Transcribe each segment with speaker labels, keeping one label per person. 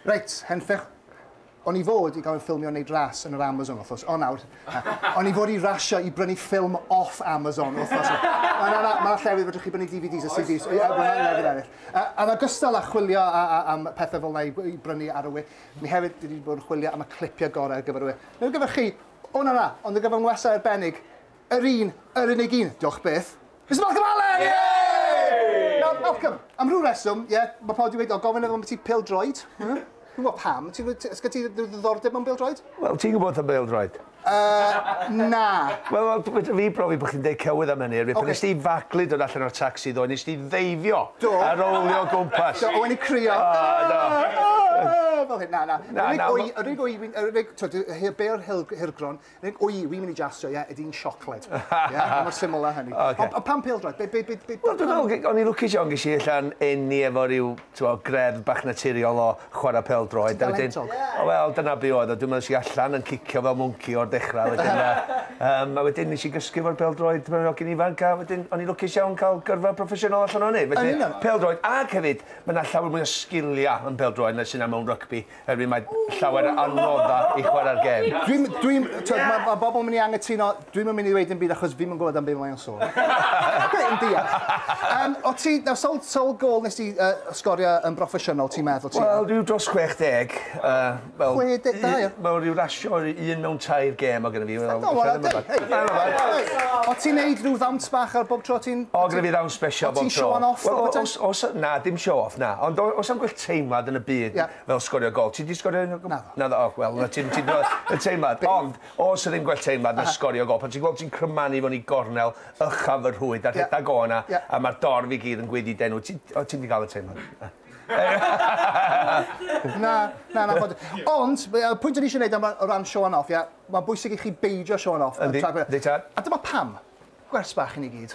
Speaker 1: Reit, henffych. O'n i fod i gael fy ffilmio yn neud ras yn yr Amazon wthnos, o nawr, na. O'n i fod i rasio i brynu ffilm off Amazon wthnos. Na, na, na, ma' llefydd fedrwch chi brynu DVDs a CDs. Oes, oes. Mae llefydd eraill. Yy, yn ogystal â chwilio a- a- am pethe fel 'na i i brynu ar y we, ni hefyd dwi 'di bod yn chwilio am y clipie gore ar gyfer y we. Nid ar gyfer chi, o na, na, ond ar gyfer ngwestai arbennig, Yr un, yr unig un, diolch byth. Mister Malcolm Allen! Yay! Nawr, Malcolm, am rhyw reswm, ie, mae pawb wedi dweud, o, gofyn am ti pêl-droed. Dwi'n gwybod pam, ti'n gwybod, ysgyd ti ddiddordeb mewn bêl-droed? Wel, ti'n gwybod am
Speaker 2: bêl-droed? Uh,
Speaker 1: na. Wel, wel,
Speaker 2: fedra fi brofi bod chi'n deud cywydd am hynny, erbyn okay. nes ti faglu dod allan o'r taxi ddo, nes ti ddeifio do. a rowlio gwmpas. Do, o'n i crio. Ah,
Speaker 1: do. Ah, fel hyn, na, na. na, na yr unig o'i, yr unig, twyd, be'r hirgron, Reit, wy, wi'n mynd i jasio, ie, ydy hi'n siocled? Ie, mor syml â hynny. Ocê. Ond pam pêl-droed? Be, be, be, be... Wel, dwi'n meddwl,
Speaker 2: o'n i'n lwcus iawn, ges i allan eni efo ryw, t'mod, greddf bach naturiol o chwarae pêl-droed. Ti'n dalentog. O, wel, dyna be' oedd o. Dwi'n meddwl es i allan yn cicio fel mwnci o'r dechrau, wedyn yy yym a wedyn nes i gysgu efo'r pêl-droed pan o'n i'n hogyn ifanc a wedyn o'n i'n lwcus iawn cael gyrfa proffesiynol allan o hynny. Felly, pêl-droed ac hefyd, ma' 'na llawer mwy o sgilia yn pêl-droed na sy' 'na mewn rygbi. Erbyn mae llawer o adnoddau i chwarae'r gêm. Dwi'n, dwi'n, twyd, mae ma
Speaker 1: bobl yn mynd i angytuno, dwi'n mynd i ddweud yn byd achos fi'n mynd gwybod am beth mae'n sôn. Dwi'n deall. Um, o ti, nawr, sol, sol gol nes ti uh, sgorio yn broffesiynol, ti'n meddwl ti? Wel, rhyw dros 60. Uh,
Speaker 2: wel, 60,
Speaker 1: da iawn. Wel, rhyw rasio
Speaker 2: un mewn tair gêm o gyda fi. Wel, no, well, hei, hei.
Speaker 1: O ti'n neud rhyw ddawns bach ar bob tro ti'n... O, gyda fi ddawn special
Speaker 2: bob tro. O ti'n show off?
Speaker 1: Os, na, dim show off,
Speaker 2: na. Ond os am teimlad yn y byd yeah. fel sgorio gol. Ti di sgorio un o gol? Naddo. Naddo, oh, wel, na ti'n ti y teimlad. Ond, os ydyn gwell teimlad na sgorio gol, pan ti'n gweld ti'n crymanu fo'n i gornel, ychaf y rhwyd, a rhedeg yeah. o yna, yeah. a mae'r dorf i gyd yn gwydi denw, ti'n ti di gael y teimlad?
Speaker 1: na, na, na. Bod. Ond, y pwynt o'n eisiau gwneud am o ran show off, ia, mae'n bwysig i chi beidio show off. Yndi, yndi tad. A dyma pam. Gwers bach i ni gyd.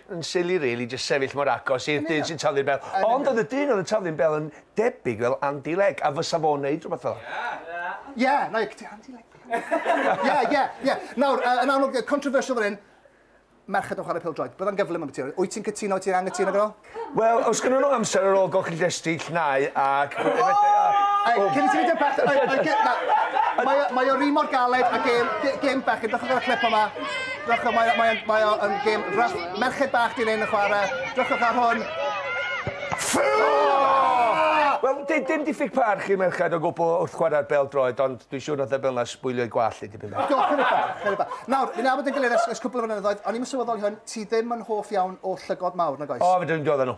Speaker 2: yn silly rili jyst sefyll mor agos i'r dyn sy'n taflu'r bel. Ond oedd y dyn oedd yn taflu'n bel yn debyg fel Andy Legg a fysa fo'n neud rhywbeth fel Ie! Ie! Na, ti Andy
Speaker 1: Legg. Ie, ie, ie. Nawr, yy, yn amlwg, controversial fan hyn, merched yn chwarae pêl-droed. Byddai'n gyflym ambyti hynny. Wyt ti'n cytuno, wyt ti'n anghytuno gyda fo? Wel, os gynnon nhw
Speaker 2: amser ar ôl golchi'r llestri, llnau ac... Hei,
Speaker 1: cyn i ti fynd i'r bechgyn, oi, oi, gy- na. Mae o, mae o ry mor galed a gêm, gêm bechgyn, dechrau gyda'r clip yma. Dwch o, mae, mae, mae o yn gêm fach. Merched bach di lein yn chwarae. Dwchwch ar hwn.
Speaker 2: Wel, dim, dim diffyg parch i merched o gwbl wrth chwarae'r bel droed, ond dwi'n siŵr oedd y bel na sbwylio i gwall i dipyn bach. Do, chydig bach, chydig bach.
Speaker 1: Nawr, fi'n abod yn gilydd ers, ers cwbl o flynyddoedd, o'n i'n sylweddoli hwn, ti ddim yn hoff iawn o llygod mawr, nag oes? O, fe dwi'n diodd nhw.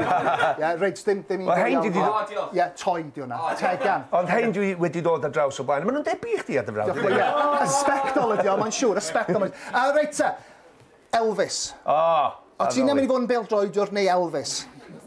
Speaker 1: Ie, reit, dim, dim un... Wel, hein dwi 'di... O, diolch. Ie, toi di hwnna. O, diolch. Tegan. Ond hein dwi wedi
Speaker 2: dod ar draws o blaen. Maen nhw'n debyg i chdi ar dy frawd. Diolch, ie. Y sbectol
Speaker 1: ydi o, mae'n siŵr, y sbectol. A reit te, Elvis. O, O, ti'n mynd i fod yn bêl-droediwr neu Elvis?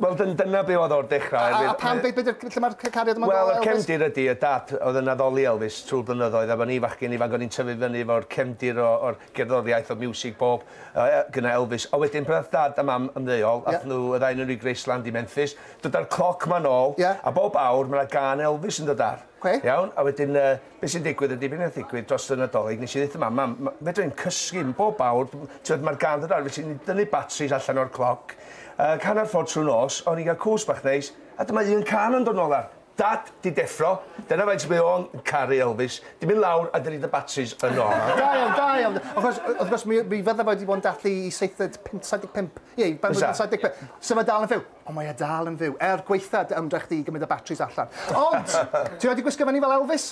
Speaker 1: Wel, dyna
Speaker 2: be oedd o'r dechrau. A, a pam, be, be,
Speaker 1: lle mae'r cariad yma Wel, y cefndir ydy, y
Speaker 2: dad oedd yn addoli Elvis trwy'r blynyddoedd, a fan ni fachgen ifanc o'n i'n tyfu fyny efo'r cefndir o'r gerddoriaeth, o'r miwsig bob. Yy yy gyda Elvis. A wedyn pan nath dad a mam ymddeol ath nw y ddau o nw i Graceland i Memphis dyda'r cloc ma nôl a bob awr ma' 'na gân Elvis yn dod ar. Oce. Iawn? A wedyn yy be' sy'n digwydd ydi be' nath ddigwydd dros y Nadolig nes i ddeutho mam mam ma' fedra i'm cysgu m- bob awr dw- t'od ma'r gân dod ar fi sy'n dynnu batris allan o'r cloc yy hannar ffordd trw'r nos o'n i'n ga'l cws bach neis a dyma un cân yn dod nôl ar. Dad, ti'n deffro. Dyna faint mae o'n caru Elvis. Ti'n mynd lawr a dynnu dy batris yno. Da iawn, da iawn. Wrth
Speaker 1: gwrs, wrth gwrs, mi, mi fydda fo wedi bod yn dathlu i seithfed, pump, 75. Ie, i benblwydd Fysa. 75. So mae dal yn fyw. Ond mae e dal yn fyw. Er gwaetha dy ymdrech di i gymryd y batris allan. Ond, ti wedi gwisgo fyny fel Elvis?